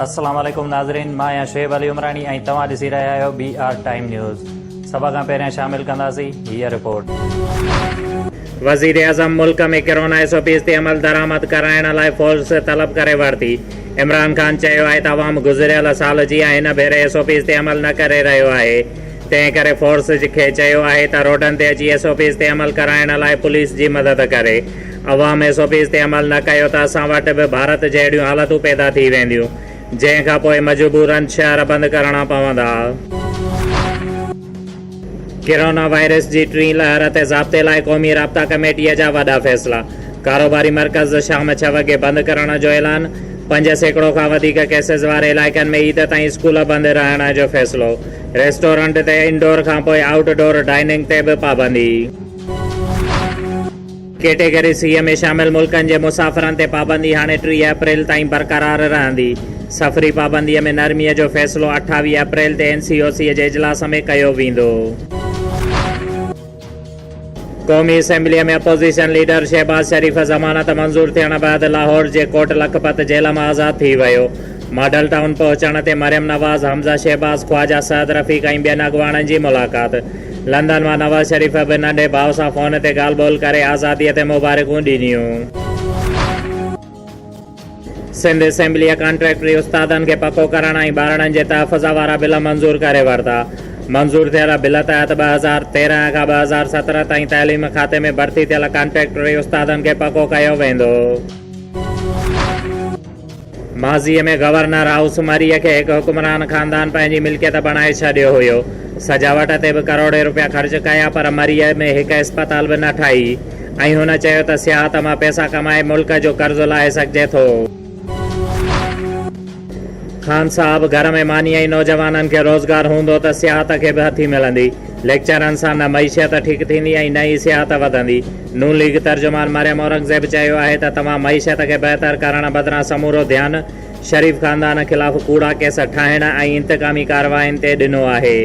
السلام عليڪم ناظرين مان آهيان شعيب علي عمراڻي ۽ توهان ڏسي رهيا آهيو بي آر ٽائيم نيوز سڀ کان پهريان شامل ڪنداسين هيء رپورٽ وزيراعظم ملڪ ۾ ڪرونا ايس او پيز تي عمل درآمد ڪرائڻ لاء فورس طلب ڪري ورتي عمران خان چيو آهي ته عوام گذريل سال جيان هن ڀيري ايس او پيز تي عمل نه ڪري رهيو آهي تنهن ڪري فورس جي کي چيو آهي ته روڊن تي اچي ايس او پيز تي عمل ڪرائڻ لاء پوليس جي مدد ڪري. عوام ايس او پيز تي عمل نه ڪيو ته اسان وٽ به ڀارت جهڙيون حالتون پيدا ٿي وينديون، جنهن کان پوء مجبورن ڇهه ارب بند ڪرڻا پوندا. ڪرونا وائرس جي ٽين لهر تي ضابطي لاء قومي رابطا ڪميٽيء جا وڏا فيصلا، ڪاروباري مرڪز شام ڇهه وڳي بند ڪرڻ جو اعلان، پنج سيڪڙو کان وڌيڪ ڪيسز واري علائقن ۾ عيد تائين اسڪول بند رهڻ جو فيصلو، ريسٽورنٽ تي انڊور کانپوء آئوٽ ڊور ڊائننگ تي به پابندي. ڪيٽيگري سي ۾ شامل ملڪن جي مسافرن تي پابندي هاڻي ٽيهه اپريل تائين برقرار رهندي. سفري پابندي ۾ نرمي جو فيصلو اٺاويهه اپريل تي اين سي او سي جي اجلاس ۾ ڪيو ويندو. قومي اسيمبليء ۾ اپوزيشن ليڊر شهباز شريف ضمانت منظور ٿيڻ بعد لاهور جي ڪوٽ لکپت جيل مان آزاد ٿي ويو. ماڊل ٽائون پهچڻ تي مريم نواز، حمزه شهباز، خواجه سعد رفيق ۽ ٻين اڳواڻن جي ملاقات. لندن مان نواز شريف به ننڍي ڀاء سان فون تي ڳالهه ٻولهه ڪري آزاديء تي مبارڪون ڏنيون. سنڌ اسيمبليء ڪانٽريڪٽري استادن کي پڪو ڪرڻ ۽ ٻارڙن جي تحفظ وارا بل منظور ڪري ورتا. منظور ٿيل بل تحت ٻه هزار تيرهن کان ٻه هزار سترهن تائين تعليم کاتي ۾ ڀرتي ٿيل ڪانٽريڪٽري استادن کي پڪو ڪيو ويندو. ماضيء ۾ گورنر هائوس مريء کي هڪ حڪمران خاندان پنهنجي ملڪيت بڻائي ڇڏيو هيو. سجاوٽ تي به ڪروڙين روپيا خرچ ڪيا پر مريء ۾ هڪ اسپتال به نه ٺاهي. ۽ هن چيو ته سياحت مان پئسا ڪمائي ملڪ جو قرض لاهي سگهجي ٿو. خان صاحب گهر ۾ مانيء ۽ نوجوانن کي روزگار هوندو ته سياحت کي به هٿي ملندي. ليڪچرن سان نه معيشت ٺيڪ ٿيندي ۽ نه ئي سياحت وڌندي. نون ليگ ترجمان مريم اورنگزيب چيو آهي ته توهان معيشت کي بهتر ڪرڻ بدران سمورو ڌيان شريف خاندان خلاف ڪوڙا ڪيس ٺاهڻ ۽ انتقامي ڪاررواين تي ڏنو آهي.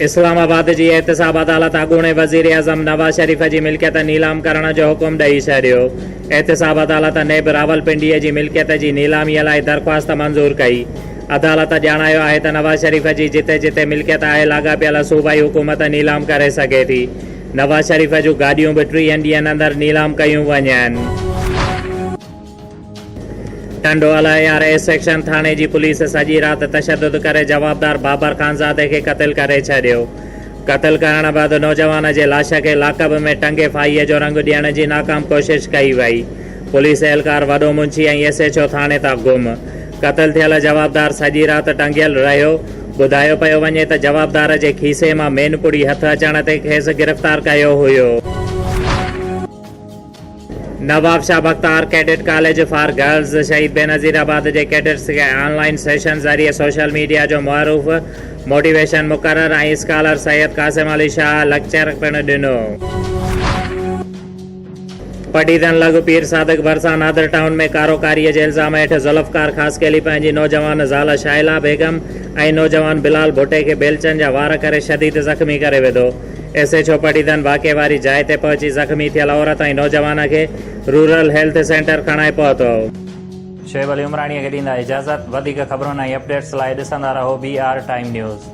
اسلام آباد جي احتساب عدالت اڳوڻي وزيراعظم نواز شريف جي ملڪيت نيلام ڪرڻ جو حڪم ڏئي ڇڏيو. احتساب عدالت نيب راولپنڊي جي ملڪيت جي نيلامي لاء درخواست منظور ڪئي. عدالت ڄاڻايو آهي ته نواز شريف جي جتي جتي ملڪيت آهي لاڳاپيل صوبائي حڪومت نيلام ڪري سگهي ٿي. نواز شريف جون گاڏيون به ٽيهن ڏينهن اندر نيلام ڪيون وڃن. ٽنڊوالهه اي آر اي سيڪشن ٿاڻي جي پوليس سڄي رات تشدد ڪري جوابدار بابر خانزادي کي قتل ڪري ڇڏيو. قتل ڪرڻ بعد نوجوان جي لاش کي لاڪب ۾ ٽنگي ڦاهيء جو رنگ ڏيڻ جي ناڪام ڪوشش ڪئي وئي. پوليس اهلڪار وڏو منشي ۽ ايس ايڇ او ٿاڻي تان گم. قتل ٿيل جوابدار سڄي رات ٽنگيل رهيو. ٻڌايو پيو وڃي ته جوابدار جي کيسي مان مينپڙي هٿ اچڻ تي کيس گرفتار ڪيو هيو. Nawabshah Bakhtawar cadet college for girls Shaheed Benazirabad جي ڪيڊٽس کي آن لائين سيشن ذريعي سوشل ميڊيا جو معروف موٽيويشن مقرر ۽ اسڪالر سيد قاسم علي شاهه لڪچر پڻ ڏنو. پڊيدن لڳ پير صادق ڀرسان نادر ٽائون ۾ ڪاروڪاري جي الزام هيٺ ذوالفقار خاصخيلي پنهنجي نوجوان زال شاهلا بيگم ۽ نوجوان بلال ڀٽي کي بيلچن جا وار ڪري شديد زخمي ڪري وڌو. ايس ايڇ او پٽيدن واقعي واري جاء تي پهچي زخمي ٿيل عورت ۽ نوجوان کي رورل هيلٿ سينٽر کڻائي پهتو. شعيب علي عمراڻيء کي ڏيندا اجازت. وڌيڪ خبرن ۽ اپڊيٽس لاء ڏسندا رهو بي آر ٽائيم نيوز.